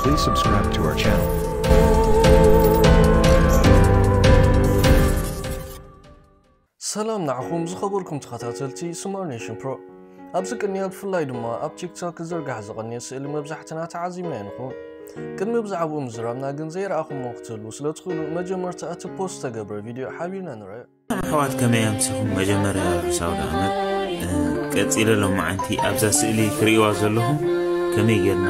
Please subscribe to our channel. ሰላም ንዓኹም ዝኸበርኩም ተኸታተልቲ ስማር ኔሽን ፕሮ ኣብዚ ቅንያ ብፍላይ ድማ ኣብ ቲክቶክ ክዝርጋሕ ዝቐንየ ስእሊ መብዛሕትና ተዓዚብና ይንኹን ቅድሚ ብዛዕባኡ ምዝራብና ግን ዘይረኣኹሞ ክትህልዉ ስለ ትኽእሉ መጀመርታ እቲ ፖስት ዝተገብረ ቪድዮ ሓቢርና ንርአ ኣሕዋት ከመይ ኣምሲኹም መጀመርያ ርሑስ ኣውደኣመት ቀጺለ ሎማዓንቲ ኣብዛ ስእሊ ክርእዋ ዘለኹም ከመይ ጌርና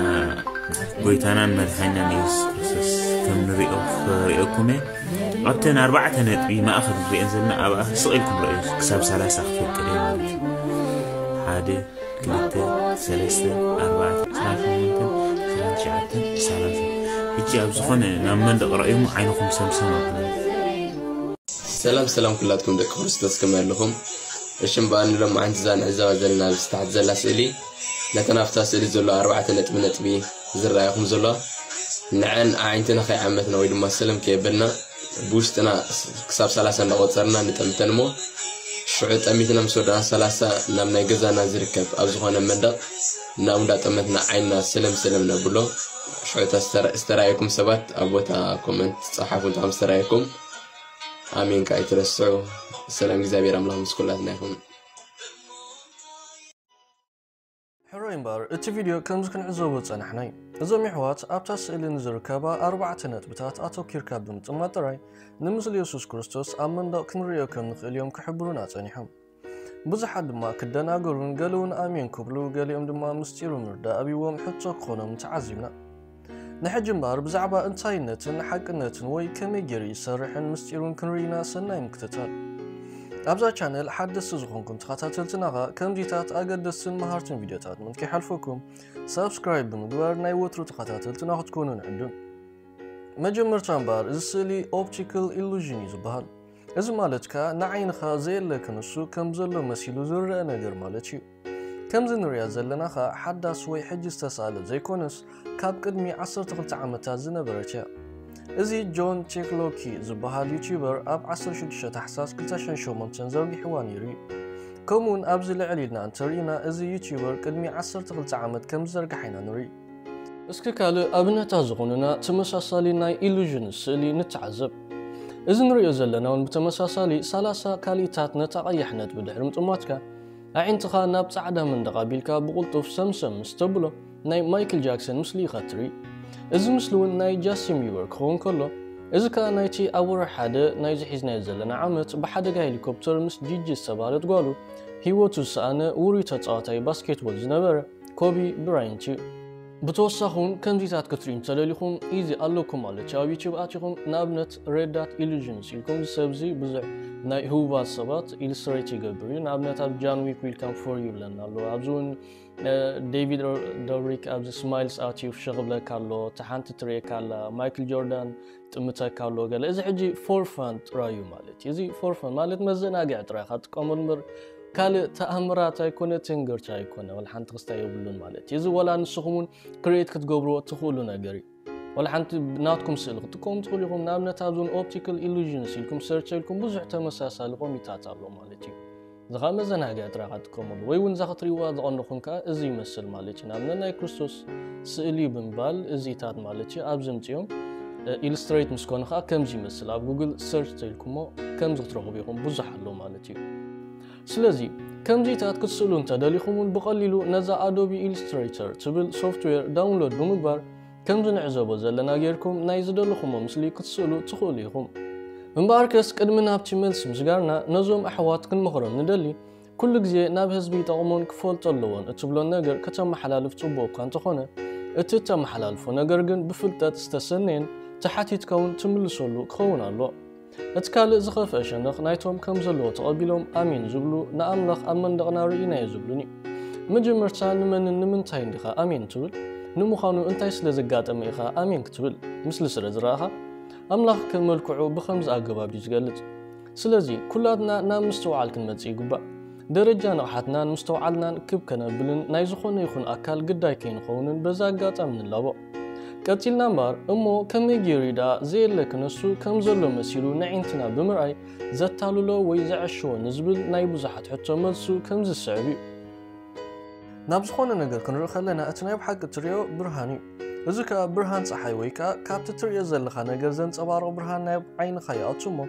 ጎይታናን መድሓኛን የሱስ ክርስቶስ ከም ንሪኦ ክርእየኩም እየ ኣብተን ኣርባዕተ ነጥቢ ማእኸል ንሪኤን ዘለና ኣብኣ ስቕ ኢልኩም ረእዩ ክሳብ ሰላሳ ክፈቅድ እየ ማለት እዩ ሓደ ክልተ ሰለስተ ኣርባዕተ ዕስራ ሸሞንተን ዕስራ ትሽዓተን ሰላሳ ሕጂ ኣብ ዝኾነ ናብ መንደቕ ረእዩሞ ዓይንኹም ሰምሰም ኣብላ ሰላም ሰላም ኩላትኩም ደቂ ክርስቶስ ከመይ ኣለኹም? እሺ እምበኣር ንሎማዓንቲ እዛ ንዕዘባ ዘለና ኣብዚ ታሕቲ ዘላ ስእሊ ነተን ኣብታ ስእሊ ዘሎ ኣርባዕተ ነጥቢ ነጥቢ ዝረኣየኹም ዘሎ ንዐን ኣዒንትና ከይዓመትና ወይ ድማ ሰለም ከየበልና ብውሽጥና ክሳብ ሰላሳ እንዳቆፀርና ንጠምተን እሞ ሽዑ ጠሚትና ምስ ወዳእና ሰላሳ ናብ ናይ ገዛና ዝርከብ ኣብ ዝኾነ መንደቕ እናብኡ እንዳጠመትና ዓይንና ሰለም ሰለም ነብሎ ሽዑ ዝተራእየኩም ሰባት ኣብ ቦታ ኮመንት ፀሓፉ እንተ ከም ዝተራእየኩም ኣሜን ከኣ ኣይትረስዑ ሰላም እግዚኣብሔር ኣምላኽ ምስ ኩላትና ይኹን ሕሩይ እምበር እቲ ቪድዮ ከምዚ ክንዕዘቦ ዝጸናሕና እዩ እዞም የሕዋት ኣብታ ስእሊ ንዝርከባ ኣርባዕተ ነጥብታት ኣተኪርካ ብምጥማት ጥራይ ንምስሊ የሱስ ክርስቶስ ኣብ መንደቕ ክንርእዮ ከም ንኽእል እዮም ክሕብሩና ጸኒሖም ብዙሓት ድማ ክደናገሩን ገለውን ኣሜን ክብሉ ገሊኦም ድማ ምስጢሩ ምርዳእ ኣብዎም ሕቶ ክኾኖም ተዓዚብና። ንሕጂ እምበኣር ብዛዕባ እንታይነትን ሓቅነትን ወይ ከመይ ገይሩ ይሰርሕን ምስጢሩን ክንርኢና ሰናይ ምክትታል። ኣብዛ ቻነል ሓደስቲ ዝኾንኩም ተኸታተልትና ኸ ከምዚታት ኣገደስትን መሃርትን ቪድዮታት ምን ከይሓልፈኩም ሳብስክራይብ ብምግባር ናይ ወትሩ ተኸታተልትና ክትኮኑ ንዕድም። መጀመርታ እምበኣር እዚ ስእሊ ኦፕቲካል ኢሉዥን እዩ ዝበሃል። እዚ ማለት ከኣ ንዓይንኻ ዘየለ ክንሱ ከም ዘሎ መሲሉ ዝረኣ ነገር ማለት እዩ። ከምዚ ንርእያ ዘለና ከኣ ሓዳስ ወይ ሕጂ ዝተሳእለ ዘይኮነስ ካብ ቅድሚ ዓሰርተ ክልተ ዓመታት ዝነበረት እያ። እዚ ጆን ቼክሎኪ ዝበሃል ዩትዩበር ኣብ ዓሰርተ ሽዱሽተ ታሕሳስ ክልተ ሽሕን ሸሞንተን ዘርጊሕዋ ነይሩ እዩ። ከምኡውን ኣብዚ ልዕል ኢልና እንተርኢና እዚ ዩትዩበር ቅድሚ ዓሰርተ ክልተ ዓመት ከም ዝዘርግሓ ኢና ንርኢ። እስኪ ካልእ ኣብነታት ዝኾኑና ተመሳሳሊ ናይ ኢሉዥን ስእሊ ንተዓዘብ። እዚ ንርእዮ ዘለና ውን ብተመሳሳሊ ሰላሳ ካልኢታት ነታ ቀያሕ ነጥቢ ድሕሪ ምጥማትካ ኣዒንትኻ ናብ ጻዕዳ መንደቕ ኣቢልካ ብቕልጡፍ ሰምሰም ምስ ተብሎ ናይ ማይክል ጃክሰን ምስሊ ኢኻ ትርኢ። እዚ ምስሊ ውን ናይ ጃስቲን ቢበር ክኸውን ከሎ እዚ ከኣ ናይቲ ኣብ ወርሒ ሓደ ናይዚ ሒዝናዮ ዘለና ዓመት ብሓደጋ ሄሊኮፕተር ምስ ጂጂ ዝተባህለት ጓሉ ህይወቱ ዝሰኣነ ውሩይ ተጻዋታይ ባስኬትቦል ዝነበረ ኮቢ ብራይንት እዩ። ብተወሳኺ እውን ከምዚታት ክትሪኡ እንተደሊኹም ኢዚ ኣለኩም ማለት እዩ ኣብ ዩቲዩብ ኣቲኹም ንኣብነት ሬዳት ኢሉዥንስ ኢልኩም እዚ ሰብ እዚ ብዙሕ ናይ ህቡባት ሰባት ኢሉስትሬት ይገብር እዩ ንኣብነት ኣብ ጃን ዊክ ዊልካም ፎር ዩ ኣለና ኣሎ ኣብዚ እውን ዴቪድ ዶሪክ ኣብዚ ስማይልስ ኣትዩ ፍሸኽ ብለካ ኣሎ እቲ ሓንቲ ትርእየካ ኣላ ማይክል ጆርዳን ጥምተካ ኣሎ ገለ እዚ ሕጂ ፎርፋን ጥራዩ ማለት እዩ እዚ ፎርፋን ማለት መዘናግዒ ጥራይ ኢኻ ትጥቀመሉ ምር ካልእ ተኣምራት ኣይኮነ ትንግርቲ ኣይኮነ ወላ ሓንቲ ክስታይ የብሉን ማለት እዩ እዚ ወላ ንስኹም እውን ክሬት ክትገብርዎ እትኽእሉ ነገር እዩ ወላ ሓንቲ ናትኩም ስእሊ ክትጥቀሙ ትኽእሉ ኢኹም ንኣብነት ኣብዞን ኦፕቲካል ኢሉዥንስ ኢልኩም ሰርች ኢልኩም ብዙሕ ተመሳሳሊ ቆሚታት ኣሎ ማለት እዩ እዚ ኸኣ መዘናግዒ ጥራይ ኢኻ ትጥቀመሉ ወይ እውን እዛ ክትሪእዋ ዝቐነኹም ከኣ እዚ ይመስል ማለት እዩ ንኣብነት ናይ ክርስቶስ ስእሊ እዩ ብምባል እዚታት ማለት እዩ ኣብዚ ምፅኦም ኢልስትሬት ምስ ኮነ ከዓ ከምዚ ይመስል ኣብ ጉግል ሰርች ተልኩሞ ከምዚ ክትረኽቡ ኢኹም ብዙሕ ኣሎ ማለት እዩ ስለዚ ከምዚታት ክትስእሉ እንተደሊኹም እውን ብቐሊሉ ነዛ ኣዶቢ ኢልስትሬተር ትብል ሶፍትዌር ዳውንሎድ ብምግባር ከምዚ ንዕዘቦ ዘለና ጌርኩም ናይ ዝደለኹሞ ምስሊ ክትስእሉ ትኽእሉ ኢኹም። እምበኣርከስ ቅድሚ ናብቲ መልሲ ምስጋርና ነዞም ኣሕዋት ክንመኽሮም ንደሊ ኩሉ ግዜ ናብ ህዝቢ ይጠቕሞን ክፈልጦ ኣለዎን እትብሎን ነገር ከተመሓላልፍ ጽቡቕ እኳ እንተኾነ እቲ እተመሓላልፎ ነገር ግን ብፍልጠት ዝተሰነየን ተሓቲትካ እውን ትምልሰሉ ክኸውን ኣሎ። እቲ ካልእ ዝኸፍአ ሸነኽ ናይቶም ከም ዘለዎ ተቐቢሎም ኣሜን ዝብሉ ንኣምላኽ ኣብ መንደቕና ርኢናዮ ዝብሉን እዩ። መጀመርታ ንመንን ንምንታይን ዲኻ ኣሜን ትብል? ንምዃኑ እንታይ ስለ ዘጋጠመ ኢኻ ኣሜን ክትብል? ምስሊ ስለ ዝረኣኻ? ኣምላኽ ከም መልክዑ ብኸምዚ ኣገባብ እዩ ዝገልጽ። ስለዚ ኩላትና ናብ ምስትውዓል ክንመጽእ ይግባእ። ደረጃ ንቕሓትናን ምስተውዓልናን ክብ ከነብልን ናይ ዝኾነ ይኹን ኣካል ግዳይ ከይንኸውንን በዚ ኣጋጣሚ ንላቦ። ቀጺልና እምበኣር እሞ ከመይ ገይሩ እዩ ደኣ ዘየለ ክነሱ ከም ዘሎ መሲሉ ነዒንትና ብምርኣይ ዘታልሎ ወይ ዘዐሽዎ ንዝብል ናይ ብዙሓት ሕቶ መልሱ ከምዚ ዝስዕብ እዩ። ናብ ዝኾነ ነገር ክንርኢ ከለና እቲ ናይ ብሓቂ እትርእዮ ብርሃን እዩ። እዚ ከኣ ብርሃን ጸሓይ ወይ ከኣ ካብቲ እትርእዮ ዘለኻ ነገር ዘንጸባርቕ ብርሃን ናብ ዓይንኻ ይኣቱ እሞ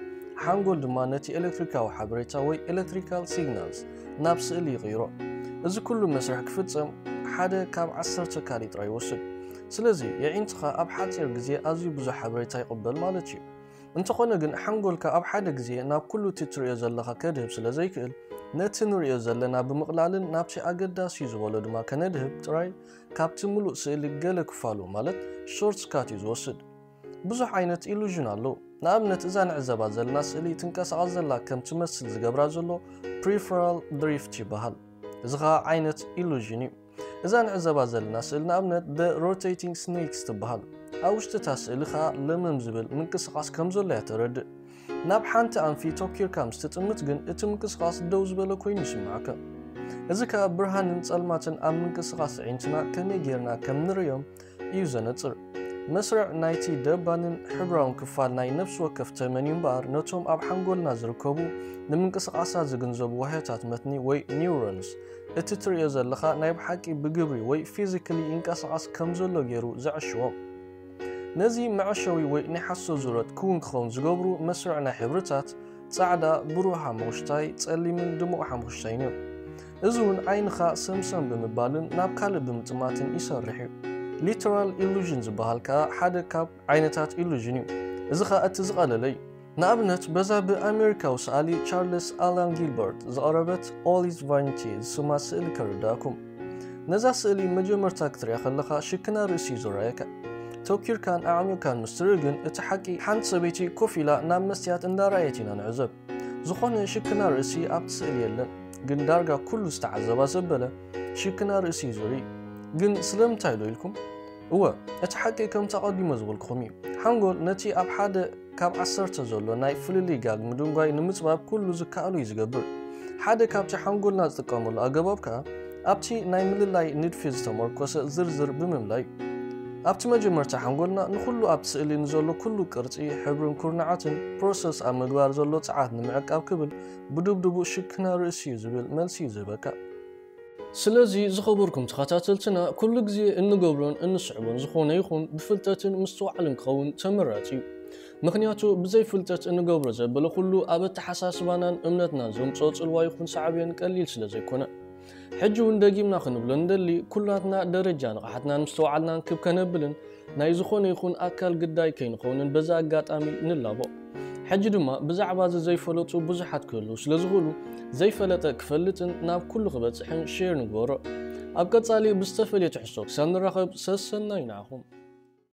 ሓንጎል ድማ ነቲ ኤለክትሪካዊ ሓበሬታ ወይ ኤለክትሪካል ሲግናልስ ናብ ስእሊ ይቕይሮ። እዚ ኩሉ መስርሕ ክፍጸም ሓደ ካብ ዓሰርተ ካሪ ጥራይ ይወስድ። ስለዚ የዒንትኻ ኣብ ሓጺር ግዜ ኣዝዩ ብዙሕ ሓበሬታ ይቕበል ማለት እዩ። እንተኾነ ግን ሓንጎልካ ኣብ ሓደ ግዜ ናብ ኩሉ እቲ ትርእዮ ዘለኻ ከድህብ ስለ ዘይክእል፣ ነቲ ንርእዮ ዘለና ብምቕላልን ናብቲ ኣገዳሲ'ዩ ዝበሎ ድማ ከነድህብ ጥራይ ካብቲ ምሉእ ስእሊ ገለ ክፋሉ ማለት ሾርትስካት እዩ ዝወስድ። ብዙሕ ዓይነት ኢሉዥን ኣሎ። ንኣብነት እዛ ንዕዘባ ዘለና ስእሊ ትንቀሳቐስ ዘላ ከም ትመስል ዝገብራ ዘሎ ፕሪፈራል ድሪፍት ይበሃል። እዚ ኸኣ ዓይነት ኢሉዥን እዩ። እዛ ንዕዘባ ዘለና ስእሊ ንኣብነት ደ ሮቴቲንግ ስኔክስ ትበሃል። ኣብ ውሽጢ እታ ስእሊ ኸኣ ለመም ዝብል ምንቅስቓስ ከም ዘሎ እያ ተረድእ። ናብ ሓንቲ ኣንፊ ቶኪርካ ምስ ትጥምት ግን እቲ ምንቅስቓስ ደው ዝበለ ኮይኑ ይስምዓካ። እዚ ከኣ ብርሃንን ጸልማትን ኣብ ምንቅስቓስ ኣዒንትና ከመይ ጌርና ከም ንርእዮም እዩ ዘነጽር። መስርዕ ናይቲ ደባንን ሕብራውን ክፋል ናይ ነፍሲ ወከፍ ተመን እዩ እምበኣር ነቶም ኣብ ሓንጎልና ዝርከቡ ንምንቅስቓሳት ዝግንዘቡ ዋህዮታት መትኒ ወይ ኒውሮንስ እቲ ትርእዮ ዘለኻ ናይ ብሓቂ ብግብሪ ወይ ፊዚክሊ ይንቀሳቐስ ከም ዘሎ ገይሩ ዘዕሽዎም። ነዚ መዐሸዊ ወይ ናይ ሓሶት ዙረት ክውን ክኸውን ዝገብሩ መስርዕ ናይ ሕብርታት ጻዕዳ፣ ብሩህ ሓሙኽሽታይ፣ ጸሊምን ድሙቕ ሓሙኽሽታይን እዮም። እዚ እውን ዓይንኻ ሰምሰም ብምባልን ናብ ካልእ ብምጥማትን ይሰርሕ እዩ። ሊተራል ኢሉዥን ዝበሃል ከኣ ሓደ ካብ ዓይነታት ኢሉዥን እዩ። እዚ ከኣ እቲ ዝቐለለ እዩ። ንኣብነት በዛ ብኣሜሪካዊ ሰኣሊ ቻርለስ ኣላን ጊልበርት ዝቐረበት All is Vanity ዝስማ ስእሊ ከርድኣኩም። ነዛ ስእሊ መጀመርታ ክትሪኣ ከለኻ ሽክና ርእሲ እዩ ዝረኣየካ። ተውኪርካን ኣዕሚቕካን ምስ ትርኢ ግን እቲ ሓቂ ሓንቲ ሰበይቲ ኮፍ ኢላ ናብ መስትያት እንዳረኣየት ኢና ንዕዘብ። ዝኾነ ሽክና ርእሲ ኣብቲ ስእሊ የለን፣ ግን ዳርጋ ኩሉ ዝተዓዘባ ሰብ በለ ሽክና ርእሲ እዩ ዝርኢ። ግን ስለምንታይ ዶ ኢልኩም? እወ እቲ ሓቂ ከምቲ ኣቐዲመ ዝበልኩኹም እዩ። ሓንጎል ነቲ ኣብ ሓደ ካብ ዓሰርተ ዘሎ ናይ ፍልልይ ጋግ ምድንጓይ ንምጽባብ ኩሉ ዝከኣሎ እዩ ዝገብር። ሓደ ካብቲ ሓንጎልና ዝጥቀመሉ ኣገባብ ከኣ ኣብቲ ናይ ምልላይ ንድፊ ዝተመርኮሰ ዝርዝር ብምልላይ እዩ። ኣብቲ መጀመርታ ሓንጎልና ንኹሉ ኣብቲ ስእሊ ንዘሎ ኩሉ ቅርጺ፣ ሕብርን ኩርናዓትን፣ ፕሮሰስ ኣብ ምግባር ዘሎ ጸዓት ንምዕቃብ ክብል ብዱብዱቡ ሽክና ርእሲ እዩ ዝብል መልሲ እዩ ዝህበካ። ስለዚ ዝኸበርኩም ተኸታተልትና ኩሉ ግዜ እንገብሮን እንስዕቦን ዝኾነ ይኹን ብፍልጠትን ምስትውዓልን ክኸውን ተመራጺ እዩ። ምኽንያቱ ብዘይ ፍልጠት እንገብሮ ዘበለ ኩሉ ኣብ ኣተሓሳስባናን እምነትናን ዘምጽኦ ጽልዋ ይኹን ሳዕቤን ቀሊል ስለ ዘይኮነ። ሕጂ እውን ደጊምና ክንብሎ ንደሊ ኩላትና ደረጃ ንቕሓትናን ምስተውዓልናን ክብ ከነብልን ናይ ዝኾነ ይኹን ኣካል ግዳይ ከይንኸውንን በዚ ኣጋጣሚ ንላቦ። ሕጂ ድማ ብዛዕባ እዚ ዘይፈለጡ ብዙሓት ክህልው ስለ ዝኽእሉ ዘይፈለጠ ክፈልጥን ናብ ኩሉ ክበጽሕን ሼር ንግበሮ። ኣብ ቀጻሊ ብዝተፈልየ ትሕዝቶ ክሳብ ንራኸብ ሰሰናዩ ንዓኹም።